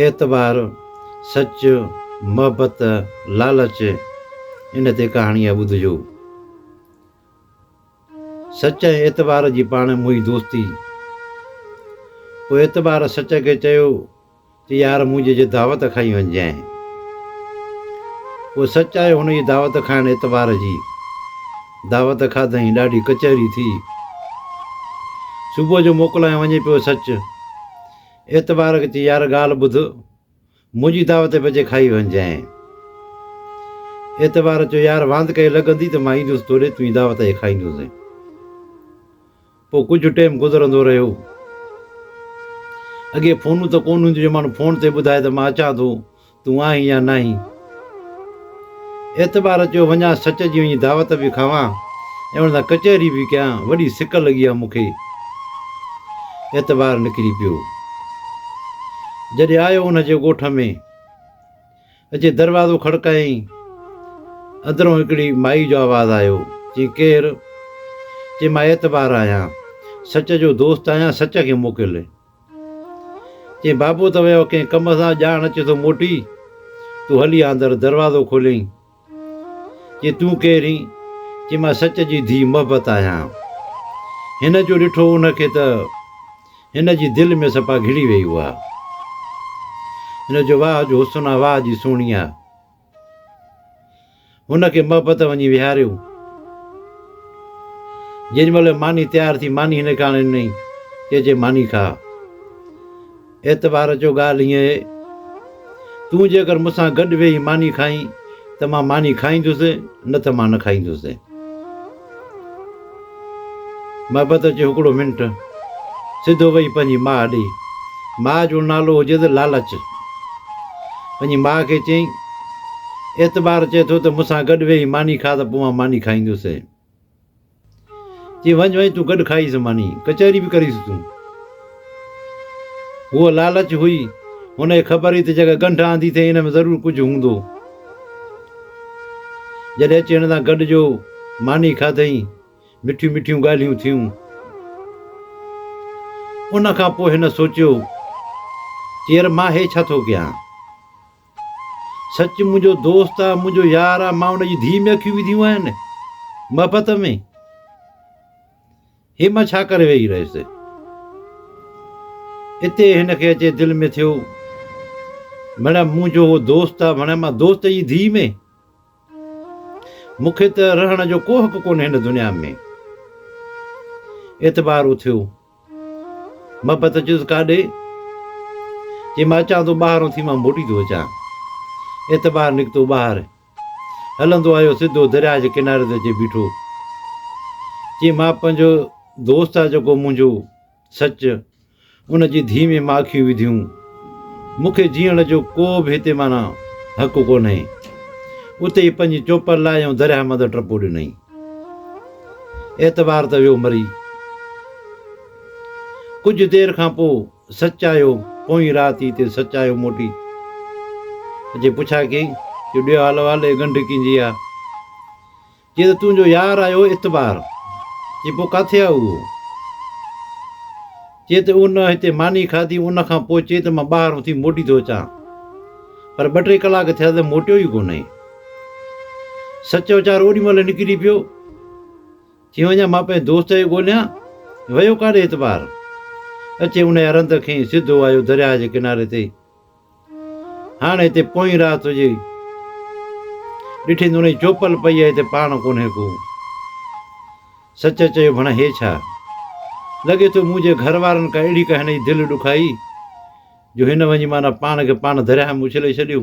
اعتبار، سچ، محبت، لالچ ان تي ڪهاڻي آهي ٻڌجو. سچ ۽ اعتبار جي پاڻ موهي دوستي. پوء اعتبار سچ کي چيو ته يار منهنجي جي دعوت کائي وڃجانء. پوء سچ آيو هن جي دعوت کائڻ اعتبار جي. دعوت کاڌئين ڏاڍي ڪچهري ٿي. صبح جو موڪلائين وڃي پيو سچ. اعتبار کي چي يار ڳالهه ٻڌ منهنجي دعوت بجي کائي وڃجانء. اعتبار چيو يار واند ڪئي لڳندي ته مان ايندس توڏي تون ئي دعوت کي کائيندوسين. پوء ڪجهه ٽيم گذرندو رهيو. اڳي فونون ته ڪونه هونديون جو ماڻهو فون تي ٻڌائي ته مان اچان ٿو، تون آهين يا ناهين. اعتبار اچيو وڃان سچ جي وڃي دعوت به کاوان ۽ ان سان ڪچهري به ڪيان، وڏي سڪ لڳي ها مون کي. اعتبار نڪري پيو. جڏهن آيو ان جي ڳوٺ ۾. اچي دروازو کڙڪايائين. اندرون هڪڙي مائي جو آواز آيو، چيائين، ڪير؟ چيم، آء اعتبار آهيان. سچ جو دوست آهيان، سچ کي موڪل. چيائين، بابو ته ويو ڪنهن ڪم سان، ڄاڻ اچي ٿو موٽي. تون هلي آ اندر. دروازو کوليائين. چي تون ڪير هين؟ چي مان سچ جي ڌيء محبت آهيان. هن جو ڏٺو ان کي ته هن جي دل ۾ سپا گهڙي ويئي اها. هن جو واهه جو حسن آ واهه جي سهڻي آ. هن کي محبت وڃي ويهاريو. جيڏي مهل ماني تيار ٿي ماني هن کي آڻي ڏنائين. چي جي ماني کا. اعتبار جو ڳالهه هينئن اهي، تون جيڪر مون سان گڏ ويهي ماني کائين ته مان ماني کائيندس، نه ته مان نه کائيندس. محبت اچي هڪڙو منٽ سڌو ويهي پنهنجي ماء ڏي. ماء جو نالو هجيس لالچ. پنهنجي ماء کي چيائين، اعتبار چئي ٿو ته مون سان گڏ ويهي ماني کاء ته پوء مان ماني کائيندس. چي وڃ وڃ تون گڏ کائيس ماني ڪچهري به ڪريس تون. هوء لالچ هئي، هن کي خبر هئي ته جيڪا ڳنڍ آندي اٿئي ان ۾ ضرور ڪجهه هوندو. جڏهن اچي هن سان گڏ جو ماني کاڌئي، مٺيون مٺيون ڳالهيون ٿيون. ان کان پوء هن سوچيو چي ير مان هي ڇا ٿو ڪيان؟ سچ منهنجو دوست آ منهنجو يار آ مان ان جي ڌيء ۾ اکيون وڌيون آهن محبت ۾ هي مان ڇا ڪري ويهي رهيس اتي هن کي اچي دل ۾ ٿيو ڀيڻا منهنجو هو دوست آ ڀيڻا مان دوست جي ڌيء ۾ مونکي ته رهڻ جو ڪو حق ڪونهي هن دنيا ۾ اعتبار اٿيو محبت چيس ڪاڏي؟ چي مان اچان ٿو ٻاهران ٿي مان موٽي ٿو اچان. اعتبار نڪتو ٻاهر. هلندو آيو سڌو درياء جي ڪناري تي اچي بيٺو. چي مان پنهنجو دوست آ جيڪو منهنجو سچ ان جي ڌي ۾ مان اکيون وڌيون. مون کي جيئڻ جو ڪو به هتي معنيٰ حق ڪونهي. اتي ئي پنهنجي چوپر لاهي ۽ درياء مندر ٽپو ڏنائين. اعتبار ته ويو مري. ڪجهه دير کان پوء سچ آيو، پوئين رات ئي تي سچ آيو موٽي. جي پڇا ڪئين جو ڏيو حال احوال اي ڳنڍ ڪين جي آ؟ چي ته تنهنجو يار آيو اعتبار. چي پوء ڪاٿي آ اهو؟ چي ته ان هتي ماني کاڌي ان کان پوء چي ته مان ٻاهر اٿي موٽي ٿو اچان پر ٻه ٽي ڪلاڪ ٿيا ته موٽيو ئي ڪونهي سچ ويچار اوڏي مهل نڪري پيو چي وڃا مان پنهنجي دوست کي ڳوليان ويو ڪاڏي اعتبار اچي ان رند کي سڌو آيو درياء جي ڪناري تي هاڻ هتي پوئين رات هجي. ڏٺين ته انهي چوپل پئي آهي هتي پاڻ ڪونهي ڪو. سچ چيو ڀڻ هي ڇا؟ لڳي ٿو مون جي گهر وارن ڪا اهڙي ڪهني جي دل ڏکائي جو هن وڃي معنيٰ پاڻ کي پاڻ درياهه ۾ اڇلي ڇڏيو.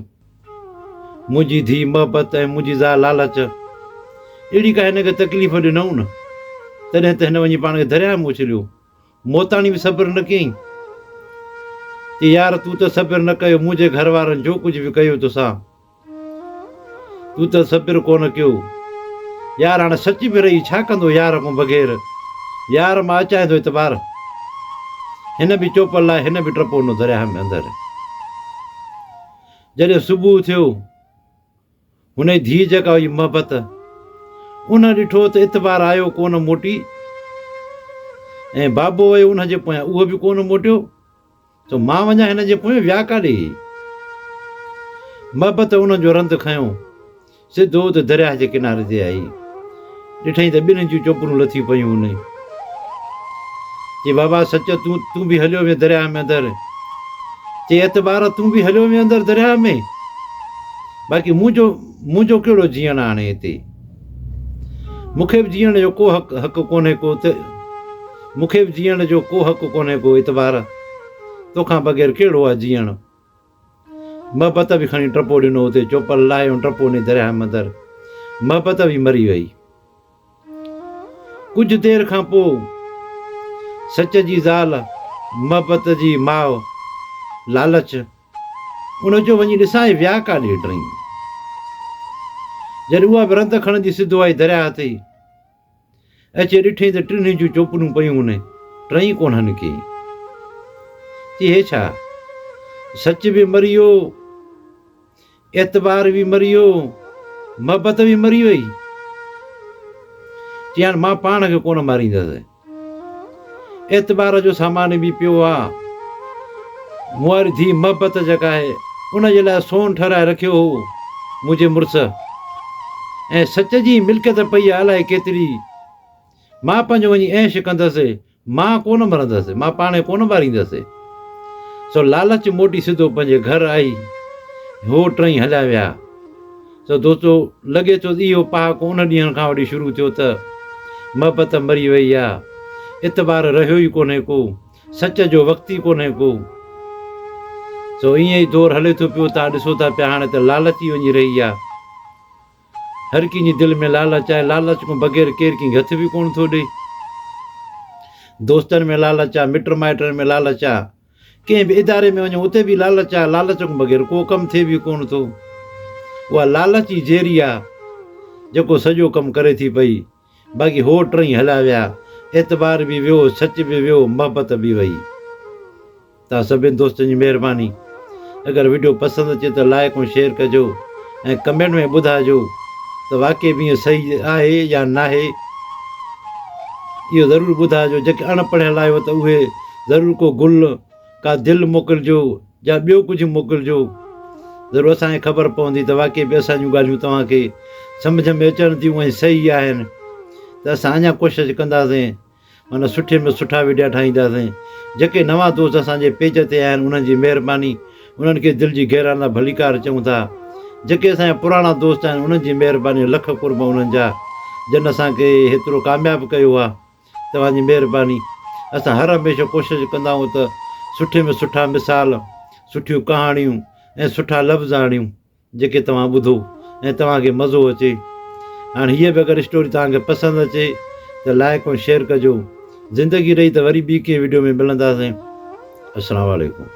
منهنجي ڌيء محبت ۽ منهنجي زال لالچ اهڙي ڪا هن کي تڪليف ڏنئون نه تڏهن ته هن وڃي پاڻ کي درياهه ۾ اڇليو. موتاڻي به صبر نه ڪيائين. چي يار تون ته صبر نه ڪيو منهنجي گهر وارن جو ڪجهه به ڪيو توسان تون ته صبر ڪونه ڪيو يار هاڻي سچ به رهي ڇا ڪندو يار کان بغير يار مان اچائين ٿو اعتبار هن به چوپل لاء هن به ٽپو نو درياهه ۾ اندر جڏهن صبح ٿيو هن جي ڌيء جيڪا هئي محبت، ان ڏٺو ته اتبار آيو ڪونه موٽي ۽ بابو ويو ان جي پويان اهو به ڪونه موٽيو ته مان وڃان هن جي پويان ويا ڪاڏي؟ محبت ان جو رند کنيو سڌو ته درياهه جي ڪناري تي آئي. ڏٺئين ته ٻنهين جون چوپرون لٿي پيون هن چي بابا سچ تون تون به هليو وڃ درياهه ۾ اندر چي اعتبار تون به هليو وڃ اندر درياهه ۾ باقي منهنجو منهنجو ڪهڙو جيئڻ آ هاڻي هتي مون کي به جيئڻ جو ڪو حق حق ڪونهي ڪو ته مون کي به جيئڻ جو ڪو حق ڪونهي ڪو اعتبار تونکان بغير ڪهڙو آ جيئڻ محبت به کڻي ٽپو ڏنو اتي چوپل لاهي ان ٽپو ني درياهه مندر محبت به مري وئي ڪجهه دير کان پو سچ جي زال محبت جي ماء لالچ ان جو وڃي ڏسان هي ويا ڪاڏي ٽئين جڏهن اها به رند کڻندي سڌو آئي درياهه تي اچي ڏٺئي ته ٽنهي جون چوپنون پيون هونئن ٽئي ڪونه نڪيئي. چي هي ڇا؟ سچ به مري ويو، اعتبار به مري ويو، محبت به مري وئي. چيائين مان پاڻ کي ڪونه ماريندس. اعتبار جو سامان به پيو آ. مون واري ڌيء محبت جيڪا آهي ان جي لاء سون ٺهرائي رکيو هو منهنجي مڙس ۽ سچ جي ملڪيت پئي آ الائي ڪيتري. مان پنهنجو وڃي عيش ڪندس. مان ڪونه مرندس. مان پاڻي ڪونه ٻاريندس. سو لالچ موٽي سڌو پنهنجي گهر آئي. هو ٽئي هليا ويا. سو دوستو لڳي ٿو ته اهو پهاڪو ان ڏينهن کان وٺي شروع ٿيو ته محبت مري وئي آ، اعتبار رهيو ئي ڪونهي ڪو، سچ جو وقت ئي ڪونهي ڪو. سو ائين ئي دور هلي ٿو پيو تان ڏسو ٿا پيا هاڻي ته لالچ ئي وڃي رهي آ. هر ڪنهن جي دل ۾ لالچ آهي، لالچ کان بغير ڪير ڪنهن کي هٿ به ڪونه ٿو ڏئي. دوستن ۾ لالچ آ، مٽ مائٽن ۾ لالچ آ. ڪنهن به اداري ۾ وڃو اتي به لالچ آهي، لالچ کان بغير ڪو ڪم ٿئي به ڪونه ٿو. اها لالچ ئي زيري آهي جيڪو سڄو ڪم ڪري ٿي پئي. باقي هو ٽئي هليا ويا، اعتبار به ويو، سچ به ويو، محبت به وئي. توهان سڀني دوستن جي مهرباني. اگر وڊيو پسند اچي ته لائيڪ ۽ شيئر ڪجو ۽ ڪمينٽ ۾ ٻڌائجو ته واقعي به ائين صحيح آهي يا ناهي. اهو ضرور ٻڌائجو جيڪي اڻ پڙهيل آهيو ته اهي ضرور ڪو گل، ڪا دل موڪلجو يا ٻيو ڪجهه موڪلجو. ضرور اسان کي خبر پوندي ته واقعي به اسان جون ڳالهيون توهان کي سمجهه ۾ اچڻ ٿيون ۽ صحيح آهن ته اسان اڃا ڪوشش ڪنداسين معنيٰ سٺي ۾ سٺا وڊيا ٺاهينداسين. جيڪي نوان دوست اسان جي پيج تي آهن انهن جي مهرباني انهن کي دل جي گهرائن مان ڀليڪار چئون ٿا. جيڪي اسان جا پراڻا دوست آهن انهن جي مهرباني لک قرب انهن جا جن اسان کي هيترو ڪامياب ڪيو آهي. توهان جي مهرباني. اسان هر هميشه ڪوشش ڪندا آهيون ته سٺي ۾ سٺا مثال، سٺيون ڪهاڻيون ۽ سٺا لفظ آڻيون جيڪي توهان ٻڌو ۽ توهان کي مزو اچي. هاڻ هيء به اگر اسٽوري توهان کي پسند اچي ته لائيڪ ۽ شيئر ڪجو. زندگي رهي ته وري ٻي ڪنهن وڊيو ۾ ملنداسين. السلام عليڪم.